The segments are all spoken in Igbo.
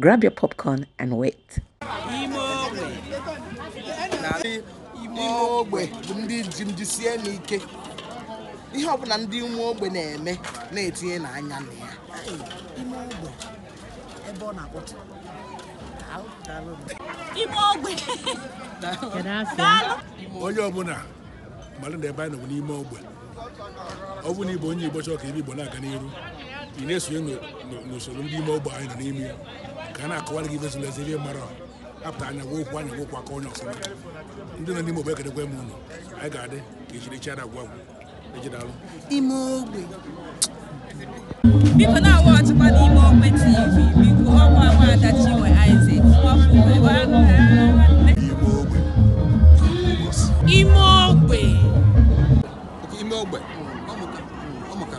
Grab your popcorn and wait. ihe ọbụla ndị ime ogbe na-eme na-etinyenụ anya na ya ime ogbe ebe ọ na-akpọtụ ime ogbe onye ọbụla mara na ebe anyị nọ n'ime ogbe ọ bụrụ na ịbụ onye Igbo chọrọ ka ive Igbo na-aga n'iru ị na-esonye n'usoro ndị ime ogbe anyị nọ n'ime ya ka a na-akọwara gị ive zili ezi ihe mara apụta anya gwa okwu anya gwa okwu aka onye ọfụma ndị nọ n'ime ogbe ekenekwa m ụnụ anyị ga-adị ka echi echi ada agwụ agwụ ejidalụ ime ogbe biko na-awatchikwanụ ime ogbe tv biko ọkwa nwaada chinwe Isaac nwafọ ime ogbe ime ogbe ọmụka ọmụka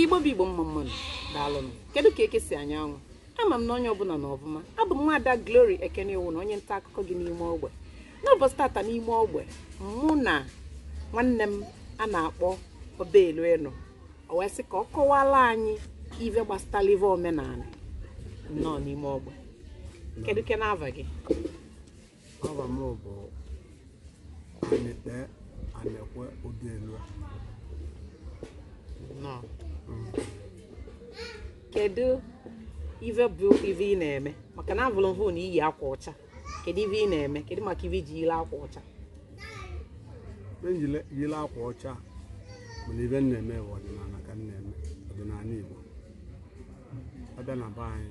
igbo bụ igbo mma mmanụ daalụnụ kedu ka eke si anya anwụ ama m na onye ọbụla nọ ọvụma abụ m nwaada Glory Ekene Iwuna onye nta akụkọ gị n'ime ogbe n'ụbọchị tata n'ime ogbe mụ na nwanne m a na-akpọ Obielu nọ o wee sị ka ọ kọwala anyị ive gbasatalụ ive omenala nnọọ n'ime ogbe kedu ke na-ava gị Ava m bụ Anekpe Anekwe Obielu. Nnọọ. kedu ive bụ ive ị na-eme maka na avụlụ m vụ na i yi akwa ọcha kedu ive ị na-eme kedu maka ive i ji yili akwa ọcha E jili yili akwa ọcha mana ive m na-eme bụ ọdịnala ka m na-eme ọdịnala Igbo. A bịa na be anyị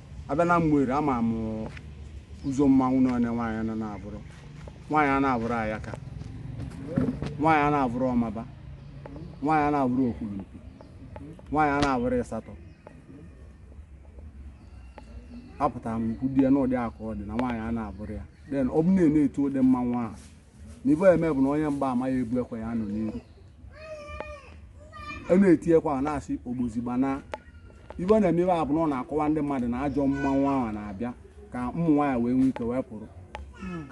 a bịa na Ụmụeri ama m ụzọ mmanwụ n'anọ nwaanyị na-ana avụrụ nwaanyị ana-avụrụ ayaka nwaanyị ana-avụrụ ọmaba nwaanyị ana-avụrụ okwulumpi nwaanyị ana-avụrụ ịsatọ apụtara m ikwu di ya n'ụdị aka ọ dị na nwaanyị ana-avụrụ ya then ọ bụ na a na-eti ụdị mmanwụ ahụ n'ive eme bụ na onye mgba ama ya ebu ekwe ya nọ n'iru a na-eti ekwe a na-asị ogbozi gbaa na ive ọ na-eme ive a bụ na ọ na-akọwa ndị mmadụ na ajọ mmanwụ ahụ na-abịa ka ụmụ nwaanyị wee nwee ike wee pụrụ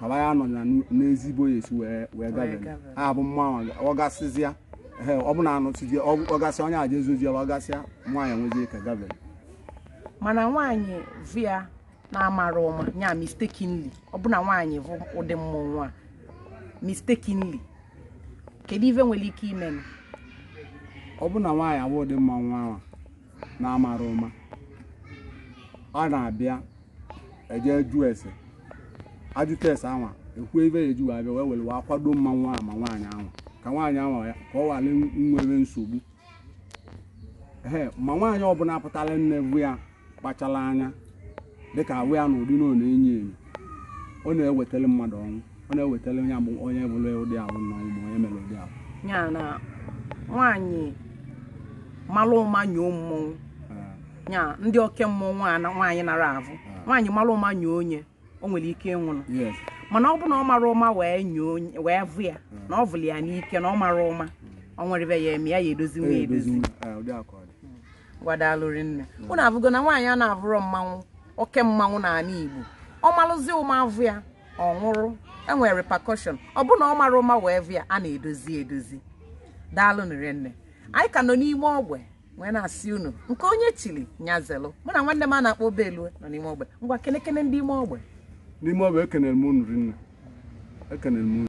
kaba ya nọ na n'ezi ebe ọ ya-esi wee wee gabere gabere. ya bụ mmanwụ ọ gasịzịa ehe, ọ bụ na anụchizie ọ bụ- ọ gasịa onye aja ezojiela ọ gasịa nwaanyị nwezie ike gabere mana nwaanyị vụ ya na-amara ụma ya mistakenly ọ bụ na nwaanyị vụ ụdị mmọnwụ a mistakenly kedu ive nwere ike ime ọ bụ na nwaanyị avụ ụdị mmanwụ ahụ na-amara ụma ọ na-abịa eje jụọ ese ajụta ese anwa ekwuo ive ya eji wee abịa wee were wee akwado mmanwụ ahụ ma nwaanyị ahụ ka nwaanyị ahụ ya ka ọ ghara nwere nsogbu ee ma nwaanyị ọbụla pụtara nne vụ ya kpachara anya dịka avụ ya na ụdị na ọ na-enyo enyo ọ na-ewetara mmadụ ọnwụ ọ na-ewetara onye bụ onye bụrụ ụdị ahụ na ọnwụ ma onye mere ụdị ahụ ya na nwaanyị malụ ụma nyoo mmọnwụ ya ndị oke mmọnwụ nwaanyị anara avụ nwaanyị malụ ụma nyoo onye o nwere ike ịnwụnụ mana ọ bụ na ọ mara ụma wee nyoo wee vụ ya na ọ vụrụ ya n'ike na ọ mara ụma ọ nwere ive ya eme ya ya edozi nwa edozi ngwa daalụ rinne unu avụgo na nwaanyị a na-avụrụ mmanwụ oke mmanwụ n'anị Igbo ọ malụzi ụma avụ ya ọ nwụrụ enwere repercussion ọ bụ na ọ mara ụma wee vụ ya a na-edozi edozi daalụnụ rinne anyị ka nọ n'ime ogbe wee na-asị unu nke onye chiri nya zelụ mụ na nwanne m a na-akpọ Obelue nọ n'ime ogbe ngwa kenekene ndị ime ogbe n'ime ogbe ekenere m unu rinne ekenere m unu